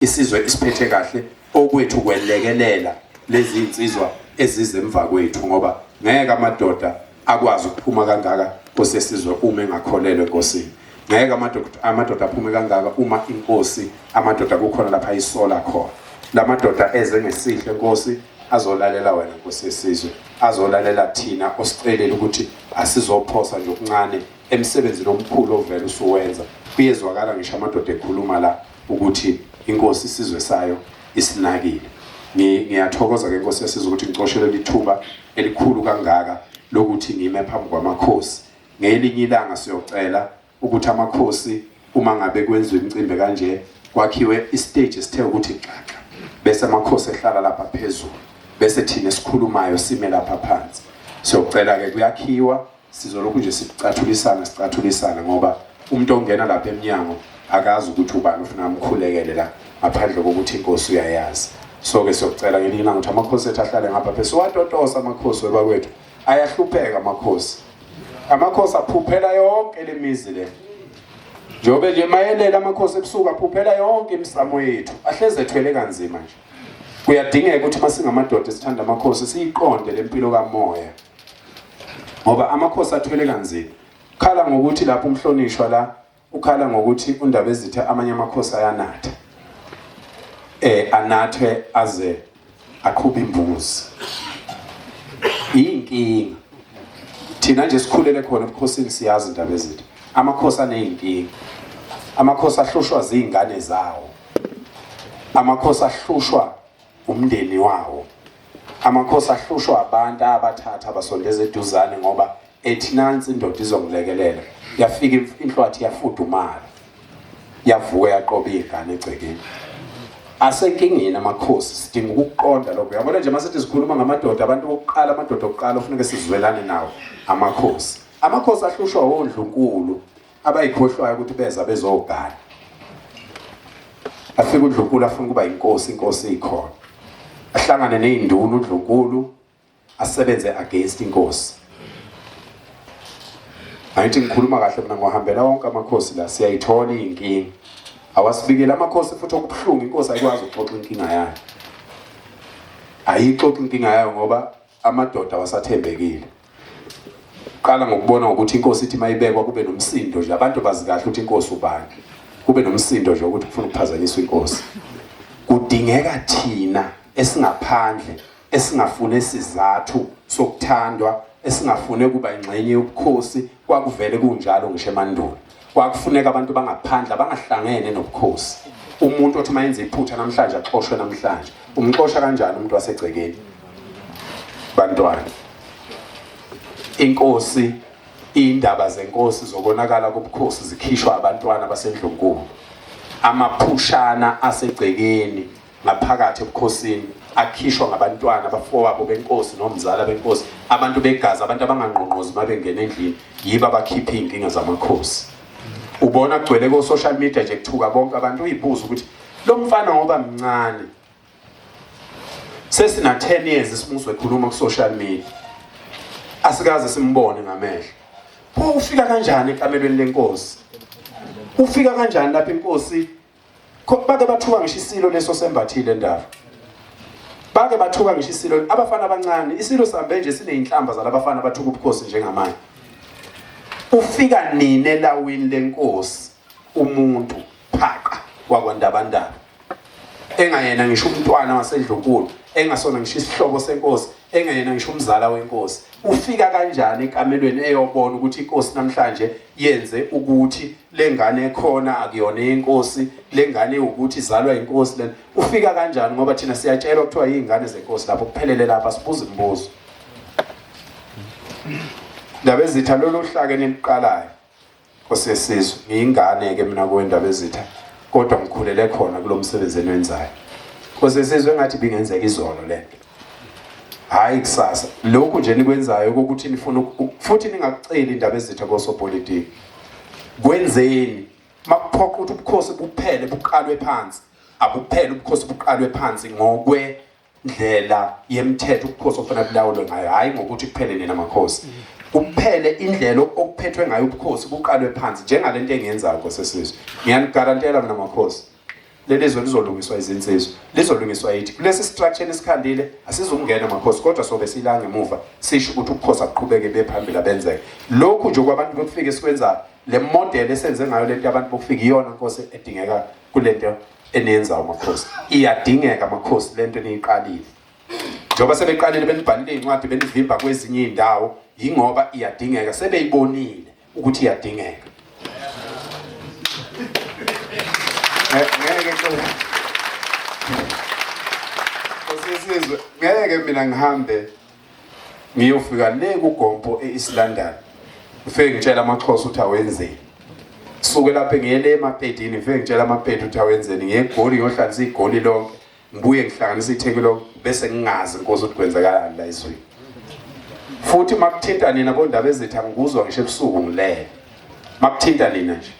isizwe isiphethe kahle okwethu kwelekelela lezi insizwa ezizemva kwethu ngoba ngeke amadoda akwazi ukuphuma kangaka kosesizwe uma engakholelwe enkosini ngeke amadoda aphume kangaka uma inkosi amadoda kukhona lapha isola khona la madoda eze ngesihle nkosi azolalela wena nkosi yesizwe azolalela thina osicelela ukuthi asizophosa nje okuncane emsebenzini omkhulu ovele usuwenza kuyezwakala ngisho amadoda ekhuluma la ukuthi inkosi isizwe sayo isinakile ngiyathokoza ke nkosi yasizwe ukuthi ngicoshelwe lithuba elikhulu kangaka lokuthi ngime phambi kwamakhosi ngelinye ilanga siyocela ukuthi amakhosi uma ngabe kwenziwa imicimbi kanje kwakhiwe istage esithe ukuthi xaxa bese amakhosi ehlala lapha phezulu bese thina esikhulumayo sime lapha phansi siyocela ke kuyakhiwa Sizolokhu nje sicathulisana sicathulisana ngoba umuntu ongena lapha emnyango akazi ukuthi ubani ufuna amkhulekele la ngaphandle kokuthi inkosi uyayazi so ke siyocela ngelinye ilanga ukuthi amakhosi ethu ahlale ngapha phe siwatotosa amakhosi webakwethu ayahlupheka amakhosi amakhosi aphuphela yonke le mizi le njengobe nje mayelela amakhosi ebusuku aphuphela yonke imisamo yethu ahleze ethwele kanzima nje kuyadingeka ukuthi masingamadoda sithanda amakhosi siyiqonde lempilo kamoya ngoba amakhosi athwele kanzima khala ngokuthi lapho umhlonishwa la ukhala ngokuthi undaba ezithe amanye amakhosi ayanatha eh anathe aze aqhube imbuzi inkinga thina nje sikhulele khona ebukhosini siyazi indaba ezithe amakhosi aneyinkinga amakhosi ahlushwa zingane zawo amakhosi ahlushwa umndeni wawo amakhosi ahlushwa abantu abathatha abasondeza eduzane ngoba ethi nansi indoda izongilekelela yafika inhlwathi yafudumala yavuka yaqoba iy'ngane egcekeni asenkingeni amakhosi sidinga ukuqonda lokho yabona nje masithi sikhuluma ngamadoda abantu bokuqala amadoda okuqala ofuneke sizwelane nawo amakhosi amakhosi ahlushwa wondlunkulu abayikhohlwayo ukuthi beza bezogana afike uDlunkulu afuna ukuba inkosi inkosi ikhona ahlangane nezinduna uDlunkulu asebenze against inkosi ayithi ngikhuluma kahle mina ngohambela wonke amakhosi la siyayithola inkingi awasibikele amakhosi futhi okubuhlungu inkosi ayikwazi ukuxoxa inkinga yayo ayixoxa inkinga yayo ngoba amadoda wasathembekile qala ngokubona ukuthi inkosi ithi mayibekwa kube nomsindo nje abantu bazi kahle ukuthi inkosi ubani kube nomsindo nje ukuthi kufuna ukuphazanyiswa inkosi kudingeka thina esingaphandle esingafune sizathu sokuthandwa esingafune kuba ingxenye yobukhosi Kwakuvele kunjalo ngisho emandulo. Kwakufuneka abantu bangaphandle abangahlangene nobukhosi. Umuntu othi uma yenza iphutha namhlanje axoshwe namhlanje. Umxosha kanjani umuntu wasegcekeni? Bantwana. Inkosi indaba zenkosi zokonakala kobukhosi zikhishwa abantwana basendlunkulu. Amaphushana asegcekeni ngaphakathi ebukhosini akhishwa ngabantwana abafowabo benkosi nomzala benkosi abantu begazi abantu abangangqongqozi uma bengena endlini yibo abakhipha iy'nkinga zamakhosi ubona kugcwele ko-social media nje kuthuka bonke abantu uyibuza ukuthi lo mfana ngoba mncane sesina 10 years isimuso ekhuluma ku-social media asikaze simbone ngamehlo pho ufika kanjani ekamelweni lenkosi ufika kanjani lapho inkosi bake bathuka ngisho isilo leso sembathile endaba bake bathuka ngisho isilo abafana abancane isilo sambe nje sineyinhlamba zalabafana bathuka ubukhosi njengamanje ufika nini elawini lenkosi umuntu phaqa wakwandabandaba engayena ngisho umntwana wasendlunkulu engasona ngisho isihlobo senkosi engayena ngisho umzala wenkosi ufika kanjani ekamelweni eyobona ukuthi inkosi namhlanje yenze ukuthi lengane ekhona akuyona inkosi lengane ukuthi izalwa inkosi lena ufika kanjani ngoba thina siyatshelwa kuthiwa izingane zenkosi lapho kuphelele lapha sibuza imibuzo ndaba ezitha lolu hlake niliqalayo osesizwe ngiyingane ke mina kwendaba ezitha kodwa ngikhulele khona kulomsebenzi enwenzayo osesizwe ngathi bingenzeka izolo lento hhayi kusasa lokhu nje nikwenzayo kokuthi nifuna futhi ningakuceli indaba ezitha kosopolitiki kwenzeni makuphoqa ukuthi ubukhosi buphele buqalwe phansi abuphele ubukhosi buqalwe phansi ngokwendlela yemthetho ubukhosi okufanele bulawulwe ngayo hhayi ngokuthi kuphele nina makhosi kuphele indlela okuphethwe ngayo ubukhosi buqalwe phansi njengale nto engiyenzayo kosesizwe ngiyanigarantela mina makhosi leli zwe lizolungiswa izinsizwa lizolungiswa yithi kulesi structure esikhandile asizukungena makhosi kodwa sobe silanga emuva sisho ukuthi ukukhosa kuqhubeke bephambili abenzeke lokhu nje kwabantu bokufika esikwenzayo le model esenze ngayo lento yabantu bokufika iyona nkosi edingeka kulento eniyenzayo makhosi iyadingeka makhosi lento eniyiqalile njengoba sebeqalile benibhalile iy'ncwadi benivimba kwezinye iy'ndawo yingoba iyadingeka sebeyibonile ukuthi iyadingeka ngeke sesizwe ngeke mina ngihambe ngiyofika le kugompo e-east london ngifike ngitshela amaxhosa ukuthi awenzeni suke lapho ngiye le emapedini ngifike ngitshela amapedi ukuthi awenzeni ngiye egoli ngiyohlalisa igoli lonke ngibuye ngihlanganisa itheki lo bese ngingazi inkosi ukuthi kwenzekalani la izweni futhi makuthinta nina bondaba ezithi angikuzwa ngisho ebusuku ngilele makuthinta nina nje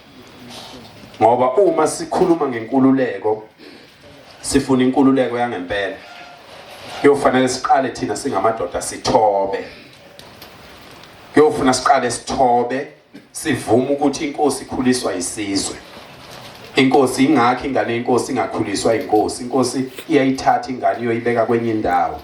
ngoba uma sikhuluma ngenkululeko sifuna inkululeko yangempela kuyofanele siqale thina singamadoda sithobe kuyofuna siqale sithobe Sivuma ukuthi inkosi ikhuliswa isizwe. Inkosi ingakho ingane yenkosi ingakhuliswa inkosi. Inkosi iyayithatha ingane iyoyibeka kwenye indawo.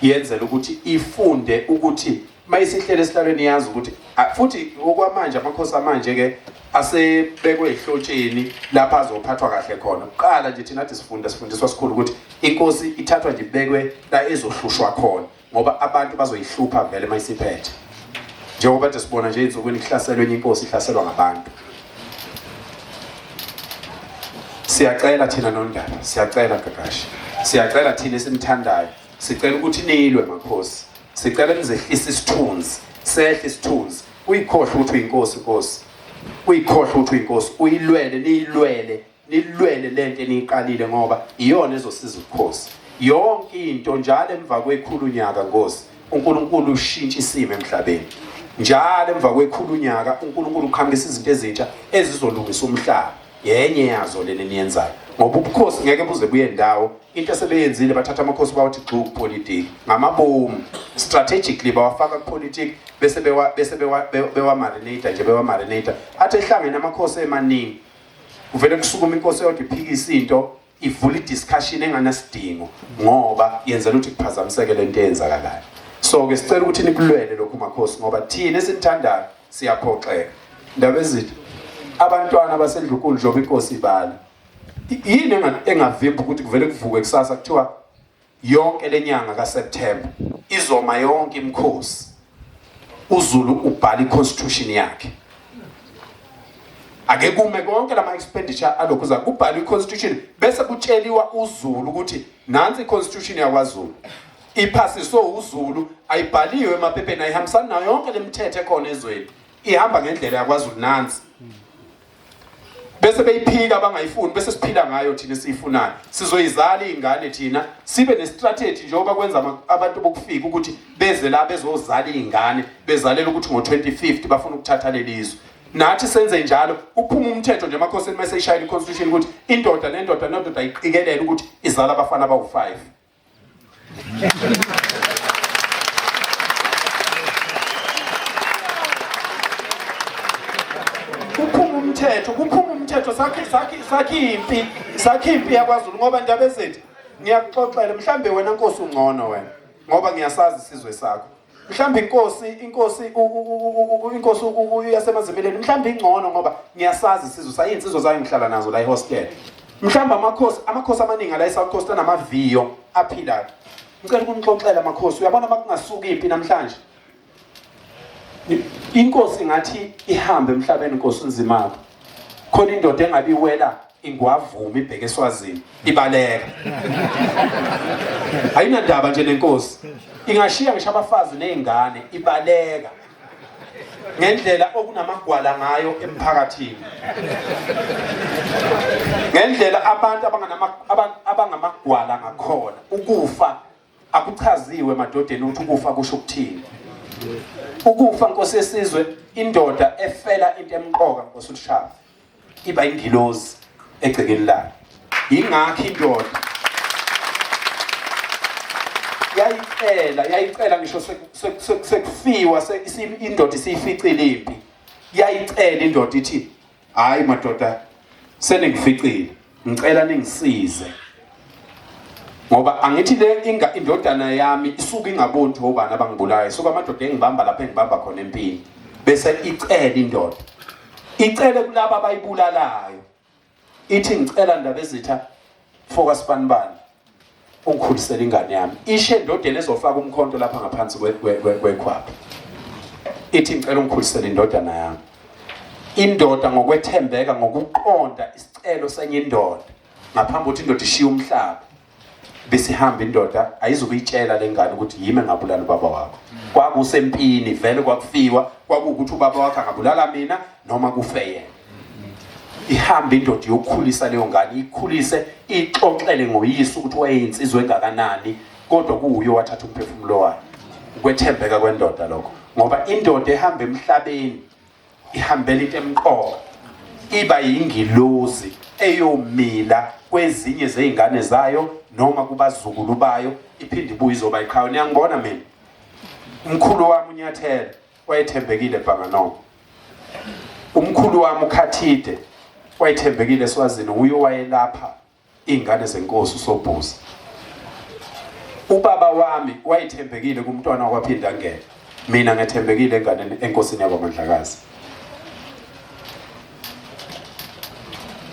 Yenzela ukuthi ifunde ukuthi mayisihlele esihlalweni yazi ukuthi futhi okwamanje amakhosi amanje ke asebekwe ehlotsheni lapha azophathwa kahle khona. Kuqala nje thina sifunda sifundiswa sikhulu ukuthi inkosi ithathwa nje ibekwe la ezohlushwa khona. ngoba abantu bazoyihlupha vele uma isiphethe njengoba nje sibona nje insukwini kuhlaselwe enye inkosi ihlaselwa ngabantu siyacela thina nondaba siyacela gagashi siyacela thina esimthandayo sicela ukuthi nilwe makhosi sicela nizehlise isithunzi sehle isithunzi uyikhohle ukuthi uyinkosi inkosi uyikhohle ukuthi uyinkosi uyilwele niyilwele nilwele lento eniyiqalile ngoba iyona ezosiza ubukhosi yonke into njalo emva kwekhulu unyaka ngosi uNkulunkulu ushintsha isimo emhlabeni njalo emva kwekhulu unyaka uNkulunkulu uqhamukisa izinto ezintsha ezizolungisa umhlaba yenye yazo lena eniyenzayo ngoba ubukhosi ngeke buze buye ndawo into esebeyenzile bathatha amakhosi bawathi gxu kupolitiki ngamabomu strategically bawafaka kupolitiki bese bewa bese bewa bewa marinate nje bewa marinate athi ehlangene amakhosi emaningi kuvele kusukume inkosi eyodwa iphikisa into ivula i-discussion enganasidingo ngoba yenzela ukuthi kuphazamiseke le nto eyenzakalayo so-ke sicela ukuthi nikulwele lokhu makhosi ngoba thina esimthandayo siyaphoxeka ndaba ezitha abantwana basedlukulu njengoba inkosi ibala yini engavimba ukuthi kuvele kuvuke kusasa kuthiwa Yonke lenyanga kaSeptember izoma yonke imkhosi. UZulu ubhala iConstitution yakhe. Ake kume konke lama expenditure alokhu za kubhala iConstitution bese kutsheliwa uZulu ukuthi nansi iConstitution yakwaZulu. Iphasiswe uZulu ayibhaliwe emaphepheni ayihambisana nayo yonke lemithetho ekhona ezweni. Ihamba ngendlela yakwaZulu nansi. bese beyiphika abangayifuni bese siphila ngayo thina esiyifunayo sizoyizala iy'ngane thina sibe nestrategy njengoba kwenza abantu bokufika ukuthi beze la bezozala iy'ngane bezalela ukuthi ngo-2050 bafuna ukuthatha lelizwe nathi senze njalo uphuma umthetho nje emakhosini uma seyishayela i-constitution ukuthi indoda nendoda nendoda iqikelele ukuthi izala abafana abawu-five kuphuma umthetho kuphuma umthetho sakhi sakhi sakhi impi sakhi impi yakwaZulu ngoba ndaba ezithi ngiyakuxoxela mhlambe wena nkosi ungcono wena ngoba ngiyasazi isizwe sakho mhlawumbe inkosi inkosi inkosi uyasemazimeleni mhlawumbe ingcono ngoba ngiyasazi isizwe sayo insizwa zayo ngihlala nazo la ihostel mhlawumbe amakhosi amakhosi amaningi ala eSouth Coast anamaviyo aphilayo ngicela ukunixoxela amakhosi uyabona makungasuka impi namhlanje inkosi ngathi ihambe emhlabeni inkosi unzimako khona indoda engabiwela ingwavuma ibheke eswazini ibaleka ayinandaba nje lenkosi ingashiya ngisho abafazi nezingane ibaleka ngendlela okunamagwala ngayo emphakathini ngendlela abantu abangamagwala ngakhona ukufa Akuchaziwe emadodeni ukuthi ukufa kusho ukuthini. Ukufa Nkosi yesizwe indoda efela into emqoka Nkosi uShaba iba ingilozi egcekeni layo. Yingakho indoda yayicela yayicela ngisho sekufiwa indoda isiyificile impi yayicela indoda ithi hayi madoda seningificile ngicela ningisize ngoba angithi le inga indodana yami isuke ingaboni ukuthi obani abangibulayo isuke amadoda engibamba lapha engibamba khona empini bese icela indoda icele kulabo abayibulalayo ithi ngicela ndaba ezitha Foka sibanibani. Ungikhulisela ingane yami. Ishe ndodeni ezofaka umkhonto lapha ngaphansi kwekhwapha. Ithi ngicela ungikhulisele indodana yami. Indoda ngokwethembeka ngokuqonda isicelo senye indoda ngaphambi ukuthi indoda ishiye umhlaba besihamba indoda ayizukuyitshela lengane ukuthi yime ngabulala ubaba wakho kwakusempini vele kwakufiwa kwakuwukuthi ubaba wakhe angabulala mina noma kufe yena ihambe indoda yokukhulisa leyo ngane ikhulise ixoxele ngoyise ukuthi wayeyinsizwa engakanani kodwa kuwuye wathatha umphefumulo wakhe ukwethembeka kwendoda lokho ngoba indoda ehamba emhlabeni ihambela into emqoka iba yingilozi eyomila kwezinye zeingane zayo noma kubazukulu bayo iphinde ibuye izoba iqhawe niyangibona mina umkhulu wami unyathela wayethembekile Bhanganongo umkhulu wami uKhathide wayethembekile eSwazini uye wayelapha ingane zenkosi uSobhuza ubaba wami wayethembekile kumntwana wakwaphinda ngena mina ngethembekile enganeni enkosini yakwamandlakazi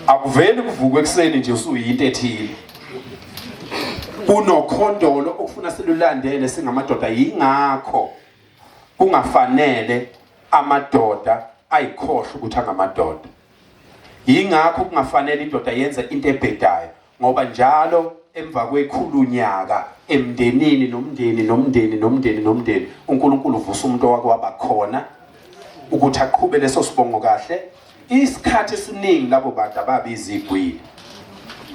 akuveli kuvuka ekuseni nje usuyinto ethile kunokhondolo okufuna silulandele singamadoda yingakho kungafanele amadoda ayikhohle ukuthi angamadoda yingakho kungafanele indoda yenze into ebhedayo ngoba njalo emva kwekhulu nyaka emndenini nomndeni nomndeni nomndeni nomndeni uNkulunkulu uvusa umuntu owakwaba khona ukuthi aqhube leso sibongo kahle isikhathi esiningi labo bantu ababizigwili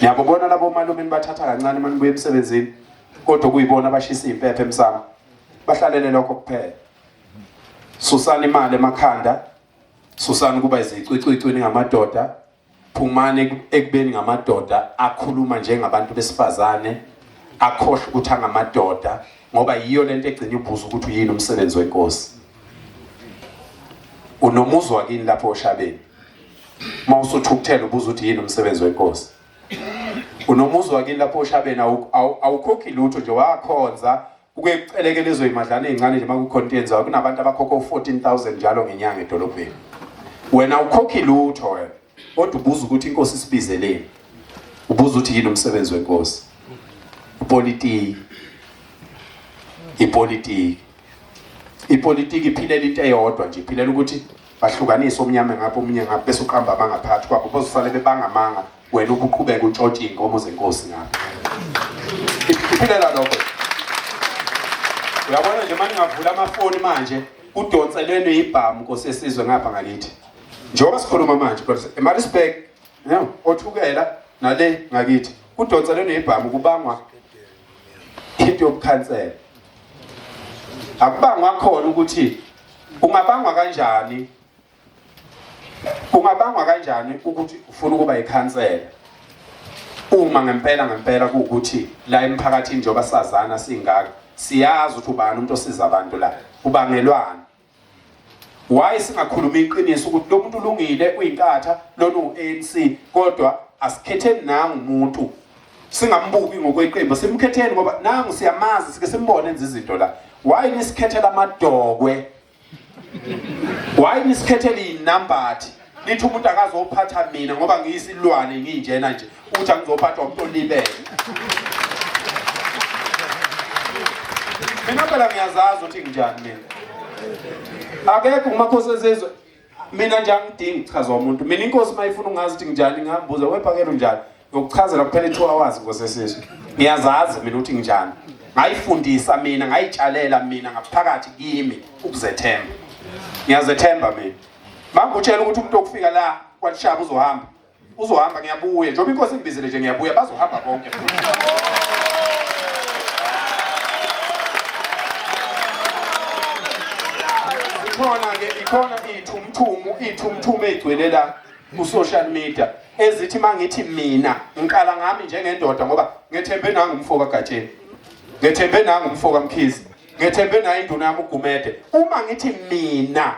niyabobona labo malume nibathatha kancane manibuye emsebenzini kodwa kuyibona abashisa impepha emsamo bahlalele lokho kuphela susani imali emakhanda susani kuba izicwicwicwi ningamadoda phumani ekubeni ngamadoda akhuluma njengabantu besifazane akhohle ukuthi angamadoda ngoba yiyo lento egcina ibuza ukuthi uyini umsebenzi wenkosi unomuzwa kini lapho oshabeni uma usuthukuthela ubuza ukuthi yini umsebenzi wenkosi unomuzi wakini lapho oshabeni awukhokhi lutho nje wakhonza uke kuceleke lezo imadlana ezincane nje makucontains wayo kunabantu abakhokha u14000 njalo ngenyanga edolobheni wena ukhokhi lutho wena kodwa ubuza ukuthi inkosi isibizeleni ubuza ukuthi yini umsebenzi wenkosi ipolitiki ipolitiki ipolitiki iphilela into eyodwa nje iphilela ukuthi bahlukanise omnyama ngapha omunye ngapha bese uqamba amanga phakathi kwabo bozosale bebanga amanga wena ubuqhubeka utshotshe iy'nkomo zenkosi ngapha iphilela lokho uyabona nje manje ngavula amafoni manje kudonselene ibhamu nkosi yesizwe ngapha ngakithi njengoba sikhuluma manje kodwa emarisburg othukela nale ngakithi kudonselene ibhamu kubangwa into yokukhansela akubangwa khona ukuthi Ungabangwa kanjani? Ungabangwa kanjani ukuthi ufuna ukuba ikhansela? Uma ngempela ngempela kuwukuthi la emphakathini njengoba sazana singaka siyazi ukuthi ubani umuntu osiza abantu la ubangelwani why singakhuluma iqiniso ukuthi lo muntu ulungile uyinkatha lona u-ANC kodwa asikhetheni nangu umuntu singambuki ngokweqembu simkhetheni ngoba nangu siyamazi sike simbone enza izinto la why nisikhethela amadokwe why nisikhethela izinambathi nithi umuntu akazophatha mina ngoba ngiyisilwane nginjena nje uthi angizophathwa umuntu olibele mina phela ngiyazazi ukuthi nginjani mina akekho umakhosi ezizwe mina nje angidingi kuchazwa umuntu mina inkosi mayifuna ungazi ukuthi nginjani ngihambuza wephakela unjani ngokuchazela kuphela i-two hours nkosi esizwe ngiyazazi mina ukuthi nginjani ngayifundisa mina ngayitshalela mina ngaphakathi kimi ukuzethemba ngiyazethemba mina mangutshela ukuthi umuntu okufika la kwalishaba uzohamba uzohamba ngiyabuya njengoba inkosi ingibizile nje ngiyabuya bazohamba bonke ikhona-ke ikhona iy'thumuthumu iy'thumuthumu ey'gcwele la ku-social media ezithi uma ngithi mina ngiqala ngami njengendoda ngoba ngethembe nangu umfo kagatsheni ngethembe nangu umfo kamkhizi ngethembe nayo induna yami ugumede uma ngithi mina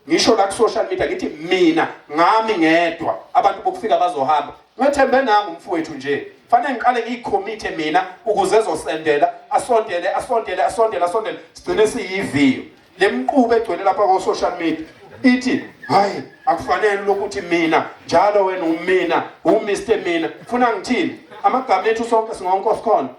ngisho la ku-social media ngithi mina ngami ngedwa abantu bokufika bazohamba ngethembe nami umfowethu nje fanele ngiqale ngiyikhomithe mina ukuze ezosendela asondele asondele asondele asondele sigcine siyiviyo le mquba egcwele lapha ko-social media ithi hayi akufanele lokuthi mina njalo wena umina umr mina funa ngithini amagama ethu sonke singonkosi khona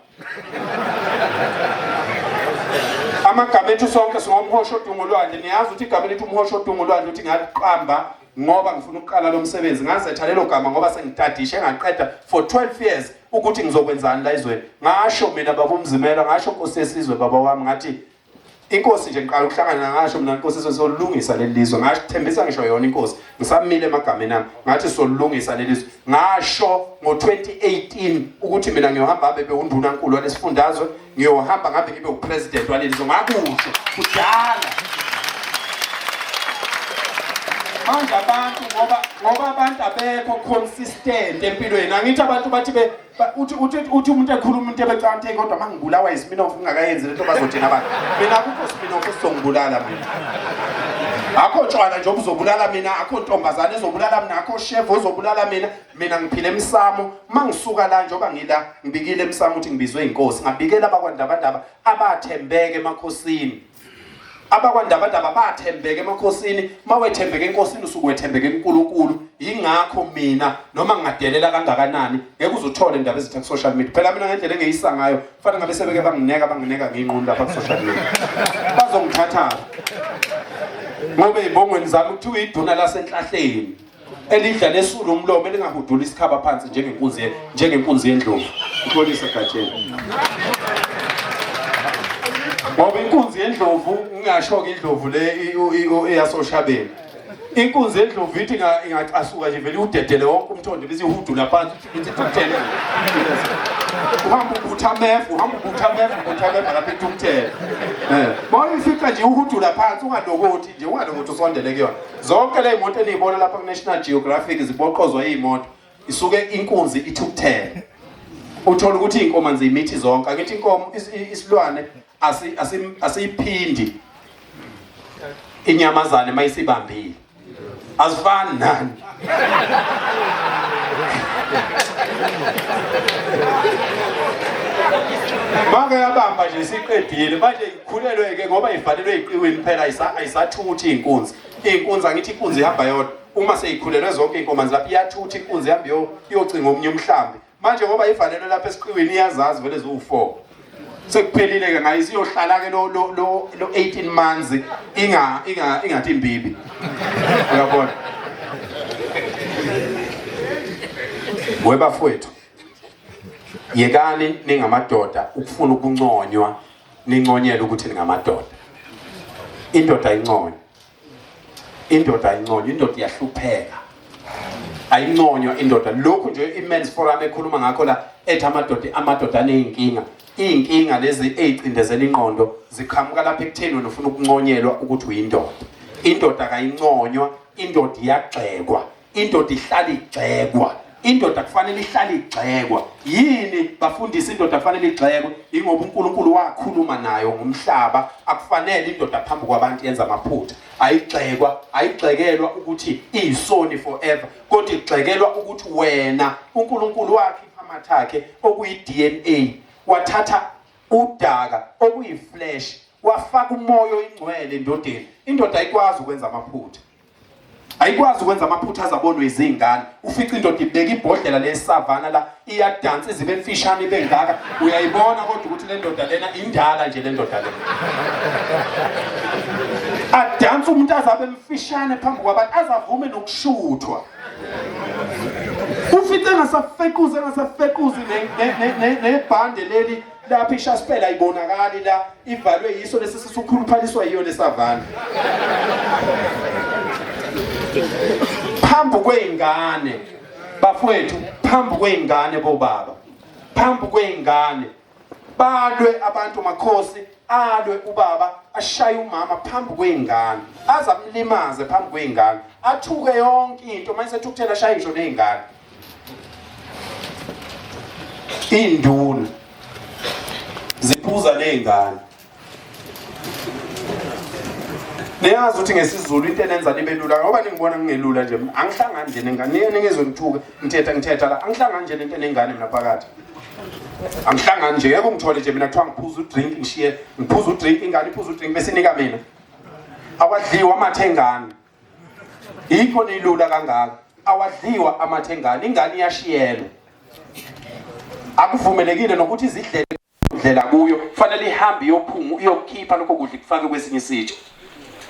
amagama ethu sonke singomhosha odunga olwandle niyazi ukuthi igama elithi umhosha odunga olwandle ukuthi ngaliqamba ngoba ngifuna ukuqala lo msebenzi ngazetha lelo gama ngoba sengitadishe ngaqeda for 12 years ukuthi ngizokwenzani la izweni ngasho mina baba umzimela ngasho nkosi yesizwe baba wami ngathi Inkosi nje ngiqala ukuhlangana ngasho mina inkosi sizolungisa leli lizwe ngasho thembisa ngisho yona inkosi ngisamile emagameni ami ngathi sizolungisa leli lizwe ngasho ngo-2018 ukuthi mina ngiyohamba hambe bewundunankulu walesifundazwe ngiyohamba ngabe ngibe upresident waleli lizwe ngakusho kudala manje abantu ngoba ngoba abantu abekho consistent empilweni angithi abantu bathi Ba- uthi uthi uthi umuntu ekhuluma into ebecante kodwa mangibulawa ispinoff ngingakayenzi lento bazothina abantu mina akukho spinoff esizongibulala mina akho tshwala nje obuzobulala mina akho ntombazane ezobulala mina akho chef ozobulala mina mina ngiphila emsamo mangisuka la njengoba ngila ngibikile emsamo ukuthi ngibizwe inkosi ngabikela abakwandabandaba abathembeke emakhosini abakwandabadaba bathembeke emakhosini mawethembeke enkosini usuke wethembeke kuNkulunkulu yingakho mina noma ngingadelela kangakanani ngeke uzuthole indaba ezitha ku social media phela mina ngendlela engeyisa ngayo kufanele ngabe sebeke bangineka bangineka nginqunu lapha ku social media bazongithatha ngoba ezibongweni zami kuthiwa iduna lasenhlahleni elidla lesulu umlomo elingahudula isikhaba phansi njengenkunzi njengenkunzi yendlovu uxolisa gatsheni ngoba inkunzi yendlovu ngingasho-ke indlovu le eyasoshabeni inkunzi yendlovu ithi ingacasuka nje vele iwudedele wonke umthondo bese ihudula phansi It's a top 10. Uhamba ubutha amef, uhamba ubutha amef, ubutha amef lapha eTumthela. Eh, mawuyi fica nje uhudula phansi ungalokothi nje ungalokothi usondele kuyona. Zonke le imoto eniyibona lapha ku National Geographic ziboqozwa izimoto. Isuke inkunzi iTumthela. Uthola ukuthi inkomo nje imithi zonke. Akithi inkomo isilwane asiyiphindi inyamazane mayisibambile azifani nani Maka yabamba nje siqedile manje ikhulelwe ke ngoba ivalelwe iqiwini phela ayisathuthi inkunzi inkunzi angithi inkunzi ihamba yodwa uma seyikhulelwe zonke inkomanzi lapho iyathuthi inkunzi ihamba iyocinga omunye umhlambi manje ngoba ivalelwe lapha esiqiwini iyazazi vele ziwu-four sekuphelile-ke ngayo isiyohlala-ke lo 18 months ingathi imbibi uyabona webafowethu yekani ningamadoda ukufuna ukunconywa ninconyele ukuthi ningamadoda indoda inconywa indoda ayinconywa indoda iyahlupheka ayinconywa indoda lokhu nje imen's forum ekhuluma ngakho la ethi amadoda amadoda aneyinkinga iyinkinga lezi eyicindezela inqondo ziqhamuka lapha ekutheni wena ufuna ukunconyelwa ukuthi uyindoda indoda kayinconywa indoda iyagxekwa indoda ihlala igxekwa indoda kufanele ihlale igxekwa yini bafundisa indoda kufanele igxekwe ingoba uNkulunkulu wakhuluma nayo ngomhlaba akufanele indoda phambi kwabantu yenza amaphutha ayigxekwa ayigxekelwa ukuthi iyisoni forever kodwa igxekelwa ukuthi wena uNkulunkulu wakhe iphamathi akhe okuyi DNA wathatha udaka okuyiflesh wafaka umoya oyingcwele endodeni indoda ayikwazi ukwenza amaphutha ayikwazi ukwenza amaphutha azabonwe izingane ufica indoda ibeka ibhodlela lesavana la iyadansa izibe mfishane ibe ngaka uyayibona kodwa ukuthi le ndoda lena indala nje le ndoda lena adanse umuntu azabe mfishane phambi kwabantu azavume nokushuthwa ufica engasafequzi engasafequzi nebhande leli lapha ishaspela ayibonakali la ivalwe yiso lesi sisukhuluphaliswa yiyo lesavana phambi kweingane bafowethu phambi kweingane bobaba phambi kweingane balwe abantu makhosi alwe ubaba ashaye umama phambi kweingane azamlimaze phambi kweingane athuke yonke into mase ethukuthela ashaye ngisho neingane Iy'nduna ziphuza ney'ngane niyazi ukuthi ngesizulu into enenza nibe lula ngoba ningibona ngingelula nje angihlangani nje nengane niye ningezwe ngithuke ngithetha ngithetha la angihlangani nje nento enengane mina phakathi angihlangani nje yebo ngithole nje mina kuthiwa ngiphuza udrink ngishiye ngiphuza udrink ingane iphuza udrink bese inika mina awadliwa amathe engane yikho nilula kangaka awadliwa amathe ngane ingane iyashiyelwa akuvumelekile nokuthi izidlele kudlela kuyo kufanele ihambe iyophunga iyokhipha lokho kudla kufake kwesinye isitsha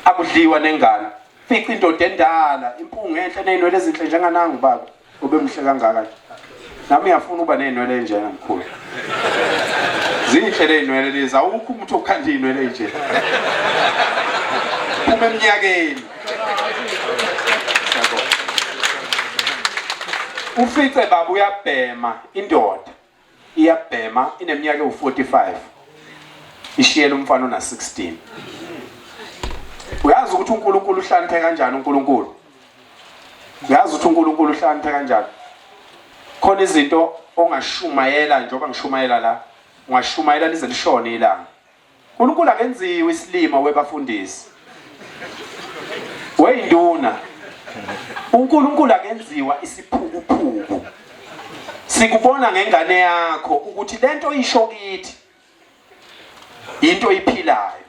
akudliwa nengane fica indoda endala impunga enhle nezinwele ezinhle njenganangu baba Ube mhle kangaka nje. Nami ngiyafuna uba nezinwele enjena mkhulu. Zinhle lezinwele lezi awukho umuntu okhanda izinwele enje. Phuma eminyakeni. Ufice baba uyabhema indoda. iyabhema ineminyaka ewu-45 ishiyela umfana ona-16 uyazi ukuthi unkulunkulu uhlaniphe kanjani unkulunkulu uyazi ukuthi unkulunkulu uhlaniphe kanjani khona izinto ongashumayela njengoba ngishumayela la ungashumayela lize lishone ilanga Nkulunkulu akenziwe isilima webafundisi. Weyinduna. UNkulunkulu akenziwa isiphukuphuku. Sikubona ngengane yakho ukuthi lento isho kithi into iphilayo.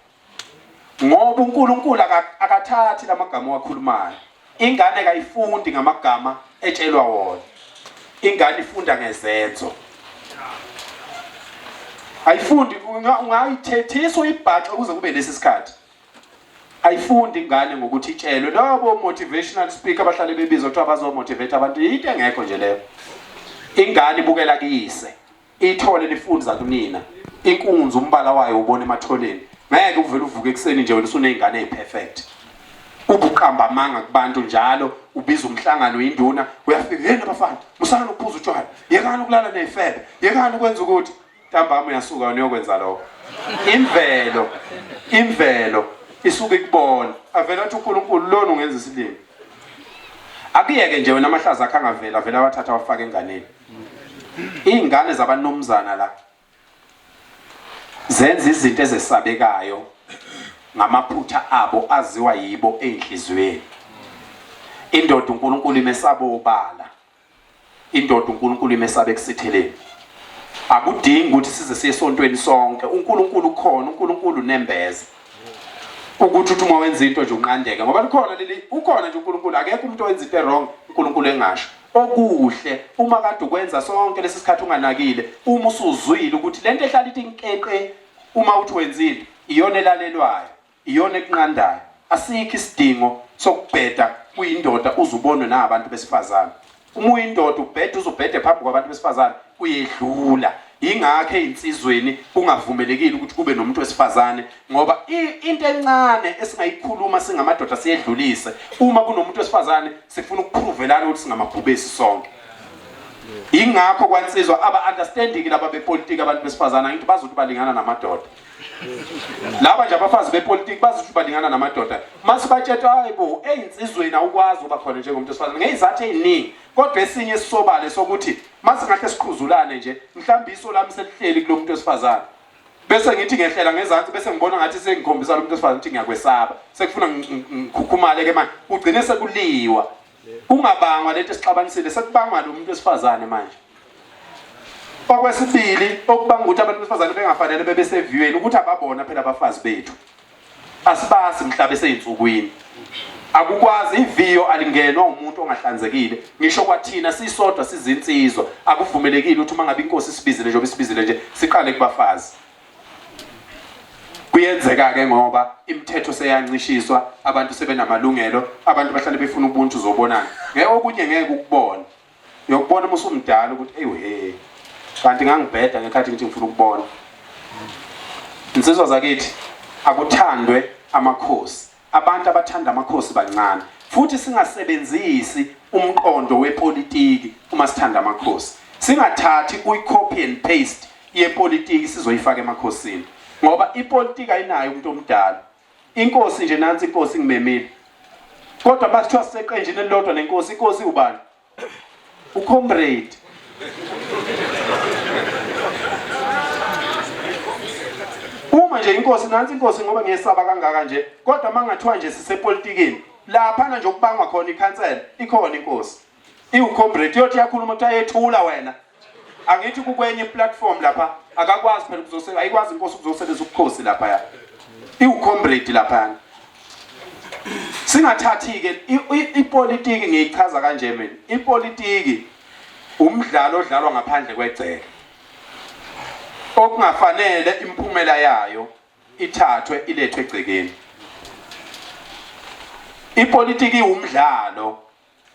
Ngoba uNkulunkulu akathathi lamagama wakhulumayo. Ingane kayifundi ngamagama etshelwa wona. Ingane ifunda ngezenzo. Ayifundi ungayithethisa uyibhaxe ukuze kube lesi sikhathi. Ayifundi ingane ngokuthi itshelwe labo motivational speaker abahlale bebizwa kuthiwa bazomotivate abantu into engekho nje leyo. Ingane ibukela kuyise. Ithole lifundi zakunina. Inkunzi umbala wayo ubona emathoneni. Ngeke uvele uvuke ekuseni nje wena usunezingane eziperfect. Ubuqamba amanga kubantu njalo ubiza umhlangano induna uyafika hey nabafana musana ukuphuza utshwala yekani ukulala nezifebe yekani ukwenza ukuthi ntambama uyasuka wena uyokwenza lokho. Imvelo imvelo isuke ikubona avela athi uNkulunkulu lona ungenza isilimo. Akuyeke nje wena amahlaza akhe angavela vele awathatha awafaka enganeni. Iy'ngane zabanumzana la zenza izinto ezesabekayo ngamaphutha abo aziwa yibo ey'nhliziyweni indoda uNkulunkulu imesaba obala indoda uNkulunkulu imesaba ekusitheleni akudingi ukuthi size siye esontweni sonke uNkulunkulu ukhona uNkulunkulu nembeza ukuthi uthi uma wenza into nje unqandeke ngoba likhona leli ukhona nje uNkulunkulu akekho umuntu owenza into wrong uNkulunkulu engasho Okuhle uma kade ukwenza sonke lesi sikhathi unganakile uma usuzwile ukuthi lento ehlala ithi nkeqe uma uthi wenzile iyona elalelwayo iyona ekunqandayo asikho isidingo sokubheda kuyindoda uzubonwe nabantu besifazane uma uyindoda ubheda uzubhede phambi kwabantu besifazane uyedlula Ingakho ezinsizweni kungavumelekile ukuthi kube nomuntu wesifazane ngoba into encane esingayikhuluma singamadoda siyedlulise uma kunomuntu wesifazane sifuna ukuphuvelana ukuthi singamabhubesi sonke. Ingakho kwansizwa aba understanding laba bepolitiki abantu besifazana ngithi bazothi balingana namadoda. Laba nje abafazi bepolitiki bazothi balingana namadoda. Mase batshetwa hayibo ezinsizweni awukwazi uba khona njengomuntu wesifazane ngezizathi eziningi kodwa esinye sisobale sokuthi Masingahle siqhuzulane nje, mhlawumbe iso lami selihleli kulomuntu wesifazane. Bese ngithi ngehlela ngezansi bese ngibona ngathi sengikhombisa lomuntu wesifazane ukuthi ngiyakwesaba. Sekufuna ngikhukhumale ke manje. Ugcine sekuliwa. Kungabangwa lento esixabanisile, sekubangwa lo muntu wesifazane manje. Okwesibili okubanga ukuthi abantu besifazane bengafanele bebe seviyweni ukuthi ababona phela abafazi bethu. Asibasi mhla beseyinsukwini. Akukwazi iviyo alingenwa umuntu ongahlanzekile. Ngisho kwathina sisodwa sizinsizwa akuvumelekile ukuthi uma ngabe inkosi isibizile njengoba isibizile nje siqale kubafazi. Kuyenzeka ke ngoba imithetho seyancishiswa abantu sebenamalungelo abantu bahlale befuna ubuntu zobonana. Ngeke okunye ngeke ukubona. Uyokubona uma usumdala ukuthi eyi he kanti ngangibheda ngekhathi ngithi ngifuna ukubona. Insizwa zakithi akuthandwe amakhosi. Abantu abathanda amakhosi bancane futhi singasebenzisi umqondo wepolitiki uma sithanda amakhosi. Singathathi uyi-copy and paste yepolitiki sizoyifaka emakhosini ngoba ipolitiki ayinayo umuntu omdala Inkosi nje nansi inkosi ngimemile. Kodwa bakuthiwa siseqenjini elilodwa nenkosi, inkosi ubani? Ucomrade. Uma nje inkosi nansi inkosi ngoba ngiyesaba kangaka nje, kodwa mangathiwa nje sisepolitikini, lapha nje okubangwa khona ikhansela, ikhona inkosi. iwucombrate yothi yakhuluma ukuthi ayethula wena angithi kukwenye iplatform lapha akakwazi phela ukuzosebenza ayikwazi inkosi ukuzosebenzisa ubukhosi lapha ya iwucombrate lapha singathathi ke ipolitiki ngiyichaza kanje mina ipolitiki umdlalo odlalwa ngaphandle kwegceke okungafanele imphumela yayo ithathwe ilethwe egcekeni ipolitiki iwumdlalo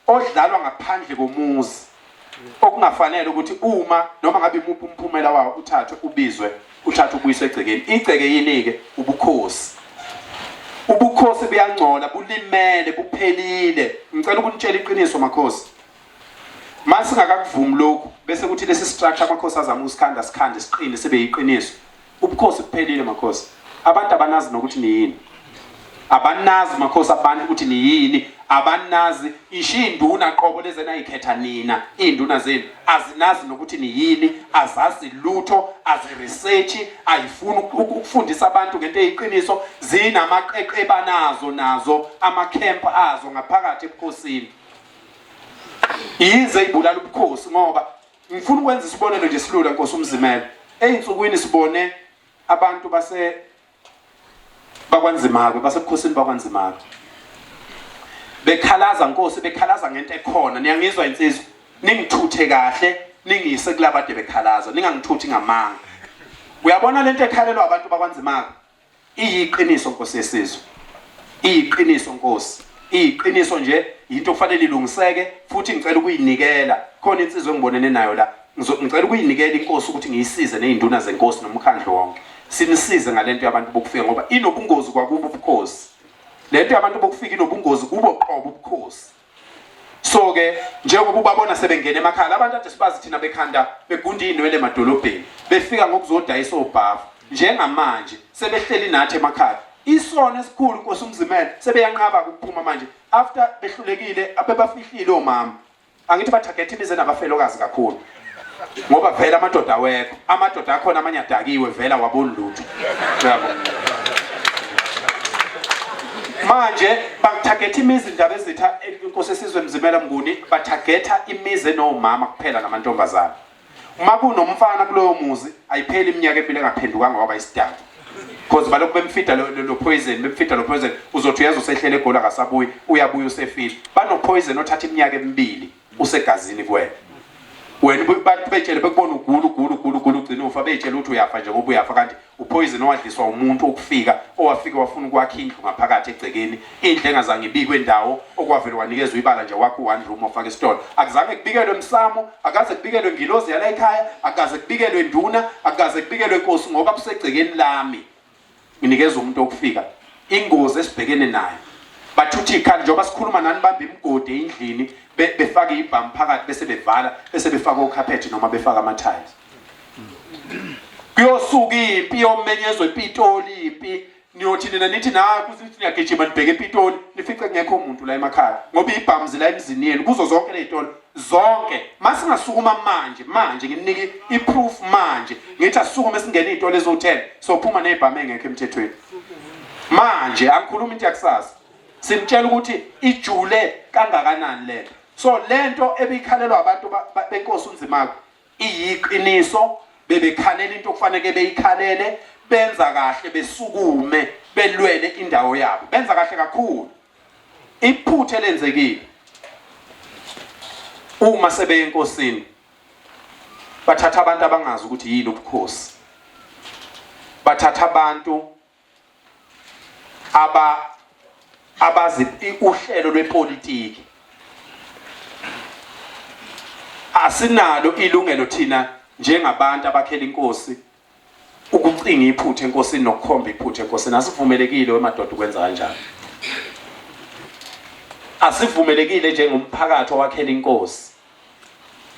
odlalwa ngaphandle komuzi okungafanele ukuthi uma noma ngabe imuphi umphumela wawo uthathwe ubizwe uthathwe ubuyiswe egcekeni igceke yini-ke ubukhosi ubukhosi buyangcola bulimele buphelile ngicela ukunitshela iqiniso makhosi ma singakakuvumi lokhu bese kuthi lesi structure amakhosi azama ukusikhanda sikhande siqine sibe yiqiniso Ubukhosi buphelile makhosi. Abantu abanazi nokuthi niyini. Abanazi makhosi abantu ukuthi niyini. Abanazi isho induna qobo leze nayikhetha nina. Induna zenu azinazi nokuthi niyini, azazi lutho, aziresearch, ayifuni ukufundisa abantu ngento eyiqiniso. Zinamaqeqe banazo nazo ama camp azo ngaphakathi ebukhosini. Yize ibulala ubukhosi ngoba Ngifuna ukwenza isibonelo nje silula Nkosi umzimela. Ezinsukwini sibone abantu base bakwanzima ke basebukhosini bakwanzima ke. Bekhalaza Nkosi bekhalaza ngento ekhona niyangizwa insizwa ningithuthe kahle ningiyise kulabade bekhalaza ningangithuthi ngamanga. Uyabona lento ekhalelwa abantu bakwanzima ke. Iyiqiniso Nkosi yesizwe. Iyiqiniso Nkosi. Iyiqiniso nje yinto okufanele ilungiseke futhi ngicela ukuyinikela khona insizwe engibonene nayo la ngicela ukuyinikela inkosi ukuthi ngiyisize nezinduna zenkosi nomkhandlu wonke sinisize ngalento yabantu bokufika ngoba inobungozi kwakubo ubukhosi lento yabantu bokufika inobungozi kubo qobo ubukhosi so ke njengoba ubabona sebengena emakhaya labantu ade sibazi thina bekhanda begunda izinwele emadolobheni befika ngokuzodayisa obhavu njengamanje sebehleli nathi emakhaya isona esikhulu Nkosi umzimela sebeyanqaba ukuphuma manje after behlulekile abebafihlile omama angithi bathagethe imize nabafelokazi kakhulu ngoba vele amadoda awekho amadoda akhona amanye adakiwe vele awaboni lutho yabo manje bathagetha imizi indaba ezitha inkosi esizwe mzimela mnguni bathagetha imizi enomama kuphela namantombazana uma kunomfana kuloyo muzi ayipheli iminyaka empilo engaphendukanga waba isidanga because balokhu bemfida lo poison bemfida lo poison uzothi uyazi usehlele egoli akasabuyi uyabuya usefile banopoison othatha iminyaka emibili Usegazini kuwena. Wena ububantu betshele bekubona ugula ugula ugula ugula ugcina ufa betshele ukuthi uyafa nje ngoba uyafa kanti upoison owadliswa umuntu okufika owafika wafuna ukwakha indlu ngaphakathi egcekeni indlu engazange ibikwe ndawo okwavele wanikezwa ibala nje wakho one room ofaka isitolo akuzange kubikelwe msamo akaze kubikelwe ngilozi yala ekhaya akaze kubikelwe nduna akaze kubikelwe nkosi ngoba kusegcekeni lami nginikeza umuntu okufika ingozi esibhekene nayo bathuthi ikhanda njengoba sikhuluma nani bamba imigodi endlini befake ibhamu phakathi bese bevala bese befaka okhaphethi noma befaka ama-tiles kuyosuka impi yomenyezwa ipitoli impi niyothi nina nithi naku sithi niyagijima nibheke epitoli nifice kungekho muntu la emakhaya ngoba ibhamu zila emzini yenu kuzo zonke ley'tolo zonke masingasukuma manje manje ngimnike iproof manje ngithi asukume singene izitolo ezothela sophuma nezibhamu engekho emthethweni manje angikhuluma into yakusasa simtshela ukuthi ijule kangakanani lento so lento ebikhalelwa abantu benkosi unzimako iyiqiniso bebekhalela into okufanele beyikhalele benza kahle besukume belwele indawo yabo benza kahle kakhulu Iphutha elenzekile uma sebeye enkosini bathatha abantu abangazi ukuthi yini ubukhosi bathatha abantu aba abazi uhlelo lwepolitiki asinalo ilungelo thina njengabantu abakhela inkosi Ukucinga iphutha enkosini nokukhomba iphutha enkosini asivumelekile wemadoda ukwenza kanjalo. Asivumelekile njengomphakathi owakhela inkosi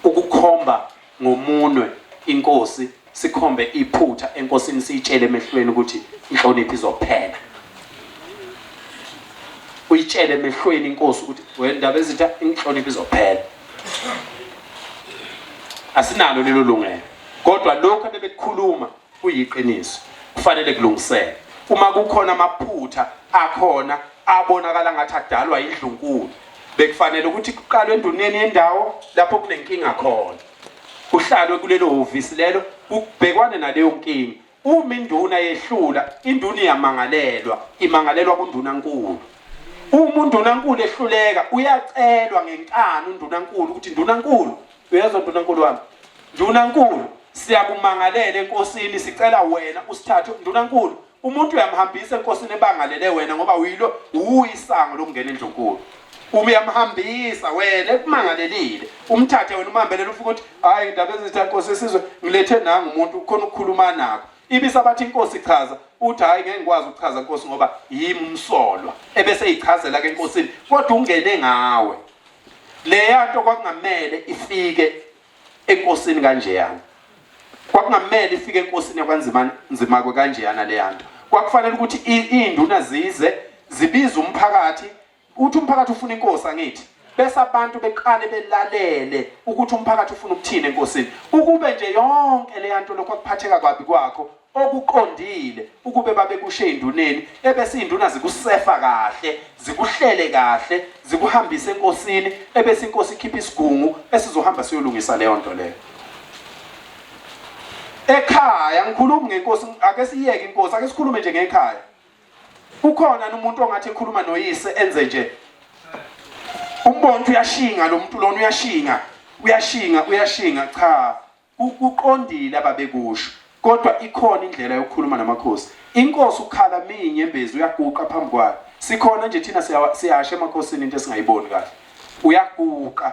ukukhomba ngomunwe inkosi sikhombe iphutha enkosini siyitshele emehlweni ukuthi inhlonipho izophela uyitshele emehlweni inkosi ukuthi wendaba ezitha inhlonipho izophela asinalo lelo lungelo kodwa lokho abebekukhuluma kuyiqiniso kufanele kulungiseke uma kukhona amaphutha akhona abonakala ngathi adalwa indlunkulu bekufanele ukuthi kuqalwe enduneni yendawo lapho kunenkinga khona kuhlalwe kulelo hhovisi lelo kubhekwane naleyo nkinga Uma induna yehlula, induna iyamangalelwa, imangalelwa kundunankulu. Uma undunankulu ehluleka, uyacelwa ngenkani undunankulu ukuthi ndunankulu, uyezwa ndunankulu wami, ndunankulu siyakumangalela enkosini, sicela wena usithathe ndunankulu. Umuntu uyamhambisa enkosini ebangalele wena ngoba uyilo uyisango lokungena endlunkulu. Uma uyamhambisa wena ekumangalelile, umthathe wena umhambelele ufuka ukuthi hayi indaba ezithi inkosi isizwe ngilethe nangu umuntu khona ukukhuluma nakho ibisa bathi inkosi ichaza uthi hayi ngeke ngikwazi ukuchaza inkosi ngoba yimi umsolwa ebese ichazela ke enkosini kodwa ungene ngawe leya nto kwakungamele ifike enkosini kanjeyana kwakungamele ifike enkosini yakwanzima nzima kwe kanjeyana leya nto kwakufanele ukuthi iinduna zize zibize umphakathi Uthi umphakathi ufuna inkosi angithi bese abantu beqale belalele ukuthi umphakathi ufuna ukuthini enkosini ukube nje yonke leya nto lokho kuphatheka kwabi kwakho okuqondile ukube babekushe enduneni ebese induna zikusefa kahle zikuhlele kahle zikuhambise enkosini ebese inkosi ikhipha isigungu esizohamba siyolungisa leyo nto leyo ekhaya ngikhulumi ngenkosi ake siyeke inkosi ake sikhulume nje ngekhaya Ukhona umuntu ongathi ekhuluma noyise enze nje. Umbonto uyashinga lo muntu lona uyashinga, uyashinga, uyashinga cha. Ukuqondile ababekusho. Kodwa ikhona indlela yokukhuluma namakhosi. Inkosi ukhala minye embezi uyaguqa phambi kwayo. Sikhona nje thina siyashe emakhosini into esingayiboni kahle. Uyaguqa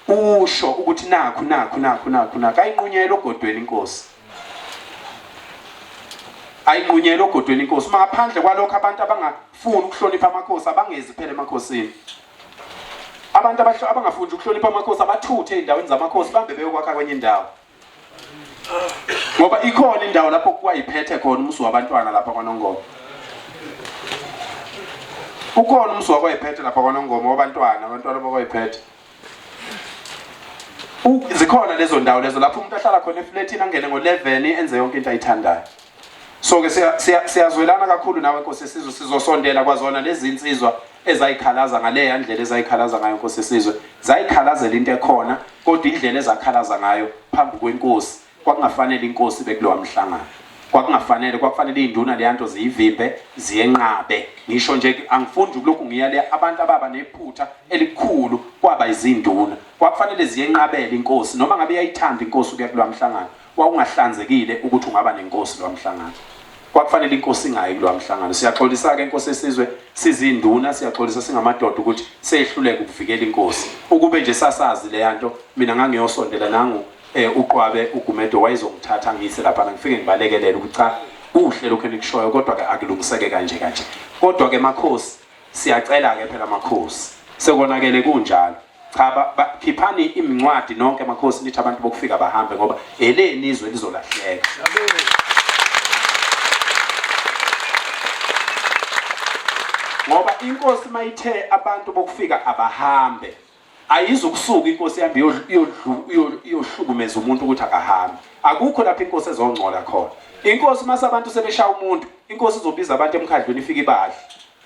usho ukuthi nakhu nakhu nakhu nakhu nakhu ayinqunyela ogodweni inkosi ayinqunyela ogodweni inkosi maphandle kwalokho abantu abangafuni ukuhlonipha amakhosi abangezi phela emakhosini abantu abangafuni ukuhlonipha amakhosi abathuthe ezindaweni zamakhosi bambe beyokwakha kwenye indawo ngoba ikhona indawo lapho kuwa iphethe khona umusi wabantwana lapha kwanongoma ukhona umusi wakwayiphethe lapha kwanongoma wabantwana abantwana bakwayiphethe zikhona lezo ndawo lezo lapho umuntu ahlala khona efletini angene ngo-11 enze yonke into ayithandayo so ke siyazwelana kakhulu nawe Nkosi yesizwe sizosondela kwazona lezi insizwa ezayikhalaza ngaleya ndlela ezayikhalaza ngayo Nkosi yesizwe zayikhalazela into ekhona kodwa indlela ezakhalaza ngayo phambi kwenkosi kwakungafanele inkosi bekulowa mhlangano kwakungafanele kwakufanele izinduna leyanto ziyivimbe ziyenqabe ngisho nje angifundi ukulokhu ngiya le abantu ababa nephutha elikhulu kwaba izinduna kwakufanele ziyenqabela inkosi noma ngabe yayithanda inkosi ukuya kulwamhlangano Kwakungahlanzekile ukuthi ungaba nenkosi lo mhlangano. Kwakufanele inkosi ingayi kulo mhlangano. Siyaxolisa ke inkosi esizwe sizinduna siyaxolisa singamadoda ukuthi sehluleka ukuvikela inkosi. Ukube nje sasazi le yanto mina ngangiyosondela nangu eh uqwabe ugumedo wayezongithatha ngiyise lapha ngifike ngibalekelele ukuthi cha kuhle lokho enikushoyo kodwa ke akulungiseke kanje kanje. Kodwa ke makhosi siyacela ke phela makhosi sekonakele kunjalo. cha khiphani imincwadi nonke makhosi nithi abantu bokufika bahambe ngoba eleni izwe lizolahleka ngoba inkosi mayithe abantu bokufika abahambe ayizukusuka inkosi ihambe iyohlukumeza umuntu ukuthi akahambe akukho lapho inkosi ezongcola khona inkosi mase abantu sebeshaya umuntu inkosi izobiza abantu emkhandlweni ifike ibadle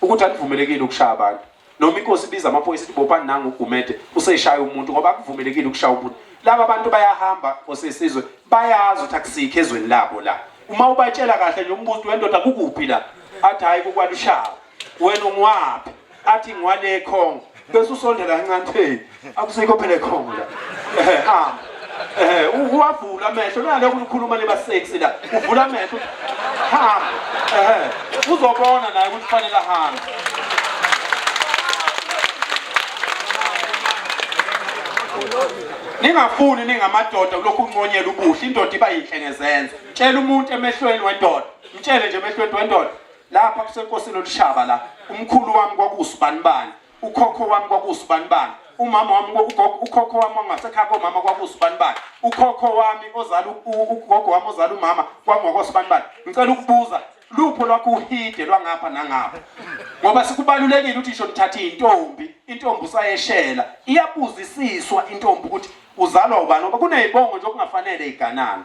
ukuthi anivumelekile ukushaya abantu noma inkosi ibiza amaphoyisa ithi bopani nangu ugumede useshaya umuntu ngoba akuvumelekile ukushaya umuntu laba bantu bayahamba osesizwe bayazi ukuthi akusikho ezweni labo la uma ubatshela kahle nje umbuzo wendoda kukuphi la athi hayi kokwalushawa wena ungiwaphi athi ngiwale ekhongo bese usondela kancane akusikho phela ekhongo la ehe hamba ehe uwavula amehlo nalokho ukhuluma leba sexy la uvula amehlo hamba ehe uzobona naye ukuthi kufanele ahambe ningafuni ningamadoda kulokhu unconyela ubuhle indoda iba yinhle ngezenzo tshela umuntu emehlweni wendoda mtshele nje emehlweni wendoda lapha kusenkosini olushaba la umkhulu wami kwakusibani bani ukhokho wami kwakuwusibanibani umama wami ukhokho wami wangasekhaya komama kwakuwusibanibani ukhokho wami ozala ugogo wami ozala umama kwangwakwasibanibani ngicela ukubuza lupho lwakho uhide lwangapha nangapha ngoba sikubalulekile ukuthi isho nithathe intombi intombi usayeshela iyabuzisiswa intombi ukuthi uzalwa ubani ngoba kunezibongo nje okungafanele iganana